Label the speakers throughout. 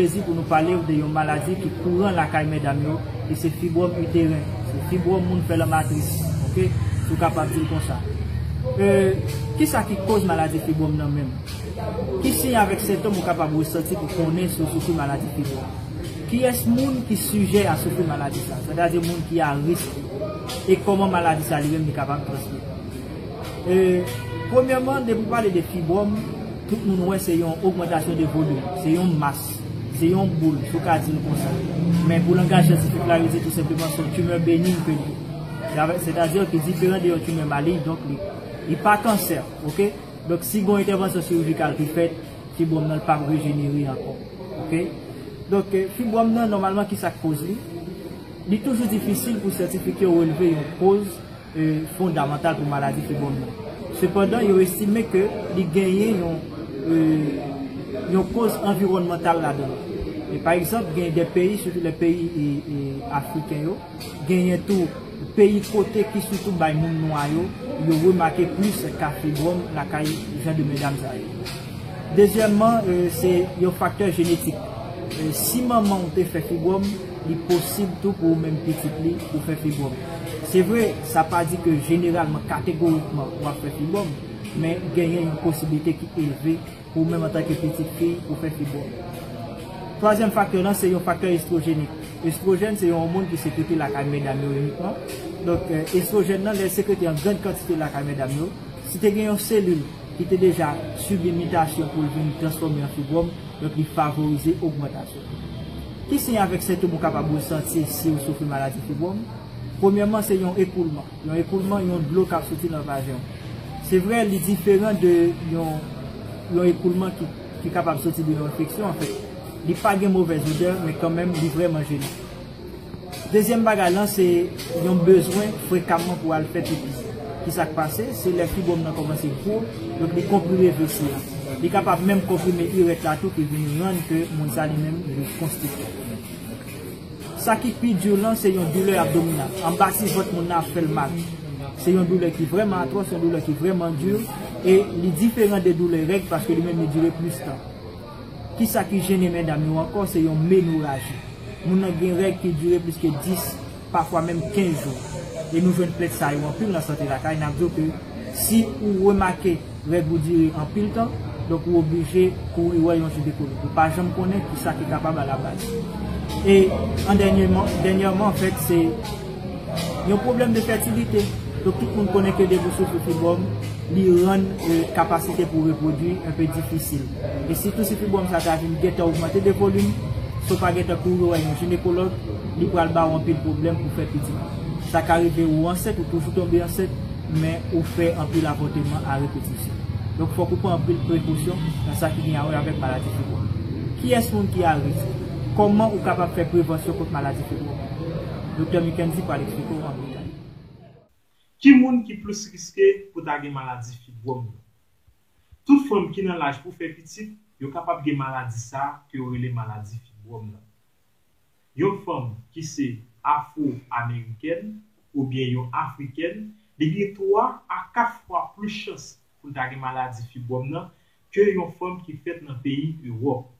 Speaker 1: Plezi pou nou pale w de yon maladi ki kouran lakay medam yo ki se fibwòm iteren. Se fibwòm moun fè lan matris ok ou kapab di l konsa. E kisa ki koz maladi fibwòm nan menm? Ki siy avèk sentòm ou kapab resanti pou konnen si w soufri maladi fibwòm? Kiyès moun ki sijè a soufri maladi sa, sètadi moun ki a risk yo? E kòman maladi sa li menm li kapab transmèt? E premyèman depi w pale de fibwòm, Tout moun wè se yon ogmantasyon de volim, se yon mas, se yon boul, si w ka di l konsa. Men pou langaj syantifik la, yo di tou senpleman se yon tumeur benigne ke l ye. Sètadi ke l diferan de yon tumeur maligne, donk li pa kansè, ok. Donk si gon entèvansyon chirivikal ki fèt, fibwòm nan l pap rejenere ankò, ok. Donk fibwòm nan nòmalman ki sa k koz li? Li toujou difisil pou syantifik yo releve yon koz. fondamantal pou maladi fibwòm nan. Sepandan, yo estime ke li genyen yon koz anviwònmantal ladan l. Pa egzanp, gen de peyi, sitou lè peyi afriken yo, genyen tou peyi kote ki sitou bay moun nwa yo, yo remake plis ka fibwòm lakay jan de medam sa yo. Dezyèmman, se yon faktè jenetik. Si manman ou te fè fibwòm, li posib tou pou ou menm pitit li ou fè fibwòm. Se vre, sa pa di ke jeneralman, kategorikman, w ap fè fibwòm, men genyen yon posiblite ki elve pou ou menm antanke pitit fi ou fè fibwòm. Twazyèm faktè lan se yon faktè estwojenik. Estwojèn se yon òmon ki sekrete lakay medam yo inikman. Donk, estwojèn lan lè l sekrete an grand kantite lakay medam yo, si te gen yon selil ki te deja sibi mitasyon pou l vin transfòme an fibwòm, donk li favorize ogmantasyon l. Ki siy avèk sentom ou kapab resanti si ou soufri maladi fibwòm? Premyèman, se yon ekoulman, yon ekoulman, yon dlo k ap soti nan vajen ou. Se vre, li diferan de yon yon ekoulman ki kapab soti de yon enfeksyon, anfèt, li pa gen movèz odè, men kanmenm li vrèman jenan. Dezyèm bagay lan se yon bezwen frekamman pou al fè pipi. Ki sa k pase? Se lè fibwòm nan kòmanse gwo, donk li konprime vesi a. Li kapab menm konprime irèt la tou ki vin rann ke moun sa li menm li konstipe. Sa ki pi dur lan se yon doulè abdominal. Anba ti vant moun nan ap fè l mal. Se yon doulè ki vrèman atròs, yon doulè ki vrèman dur e li diferan de doulè règ paske li menm li dire plis tan. Kisa ki jennen medam yo ankò se yon menoraji. Moun nan gen règ ki dire pliske 10, pafwa menm 15 jou. E nou jwenn plent sa yo anpil nan Sante Lakay, n ap di w ke si ou remake règ ou dire anpil tan, donk ou oblije kouri wè yon jinekològ. Ou pa janm konnen kisa ki kapab alabaz. E an dènyeman, dènyèman anfèt, se yon pwoblèm de fètilite. Donk tout moun konnen ke depi w soufri fibwòm, li rann kapasite pou repwodui enpe difisil. e sitou si fibwòm sa ta vin gentan ogmante de volim, si w pa gentan kouri wè yon jinekològ, li pral ba ou anpil pwoblèm pou fè pitit. Sa ka rive ou ansent, ou toujou tonbe ansent, men ou fè anpil avòteman a repetisyon. Donk fòk ou pran anpil prekosyon nan sa ki gen a wè avèk maladi fibwòm. Kiyès moun ki a risk? Kòman ou kapab fè prevansyon kont maladi fibwòm? Doktè Mickenzy pral eksplike w an detay.
Speaker 2: Ki moun ki plis riske pou ta gen maladi fibwòm yo? Tout fanm ki nan laj pou fè pitit, yo kapab gen maladi sa ke yo rele maladi fibwòm nan. Yon fanm ki se Afwo-Amerikèn oubyen yon Afrikèn, li gen 3 a 4 fwa plis chans pou l ta gen maladi fibwòm nan ke yon fanm ki fèt nan peyi Ewòp.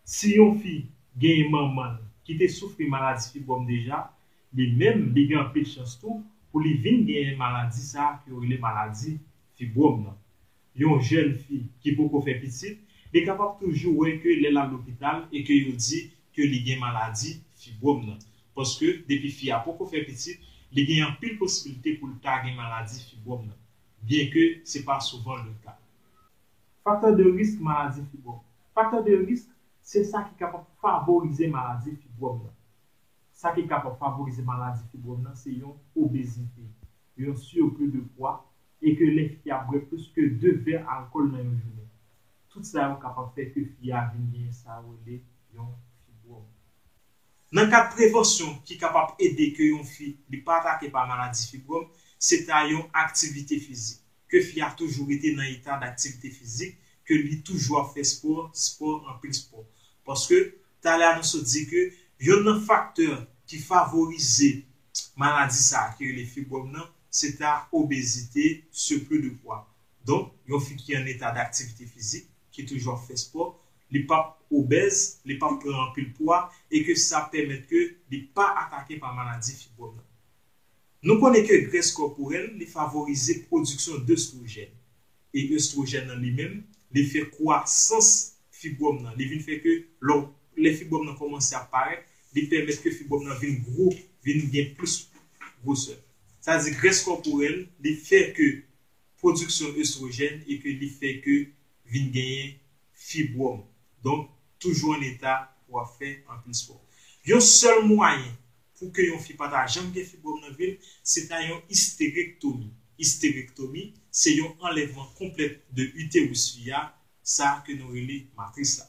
Speaker 2: Si yon fi genyen manman l ki te soufri maladi fibwòm deja, li menm li gen anpil chans tou pou li vin genyen maladi sa ke yo rele maladi fibwòm nan. Yon jèn fi ki poko fè pitit, li kapab toujou wè ke lè lal lopital e ke yo di ke li gen maladi fibwòm nan. Paske depi fi a poko fè pitit, li gen anpil posibilite pou l ta gen maladi fibwòm nan. Byen ke se pa souvan le ka. Faktè de risk maladi fibwòm. Faktè de risk se sa ki kapab favorize maladi fibwòm nan. Sa ki kapab favorize maladi fibwòm nan se yon obezite. yon surplus de pwa e ke lè fi a bwè plis ke 2 vè alkòl nan yon jounen. Tout sa yo kapab fè ke fi a vin genyen sa yo rele yon fibwòm. Nan kad prevansyon ki kapab ede ke yon fi li pa atake pa maladi fibwòm, se ta yon aktivite fizik, ke fi a toujou rete nan eta daktivite fizik, ke li toujou ap fè spò, spò, anpil spò. Paske, talè a nou sot di ke yonn nan faktè ki favorize maladi sa ki rele fibwòm nan, se ta obezite, surplus de poids. Donk, yon fi ki an eta daktivite fizik, ki toujou ap fè spò, li p ap obèz, li p ap pran anpil pwa e ke sa pèmèt ke li pa atake pa maladi fibwòm nan. Nou konnen ke grès kòporèl li favorize pwodiksyon destwojèn, e oestrogèn nan li menm li fè kwasans fibwòm nan li vin fè ke lè w lè fibwòm nan kòmanse ap parèt li pèmèt ke fibwòm nan vin gwo vin gen plis gwosè sa di grès kòporèl li fè ke pwodiksyon oestrogèn e ke li fè ke vin genyen fibwòm donk toujou an eta pou ap fè anpil spò. Yon sèl mwayen pou ke yon fi pa ta janm gen fibwòm nan vil, se ta yon isterektomi. Isterektomi, se yon anlèvman konplèt de uterus fi a, sa ke nou rele matris la.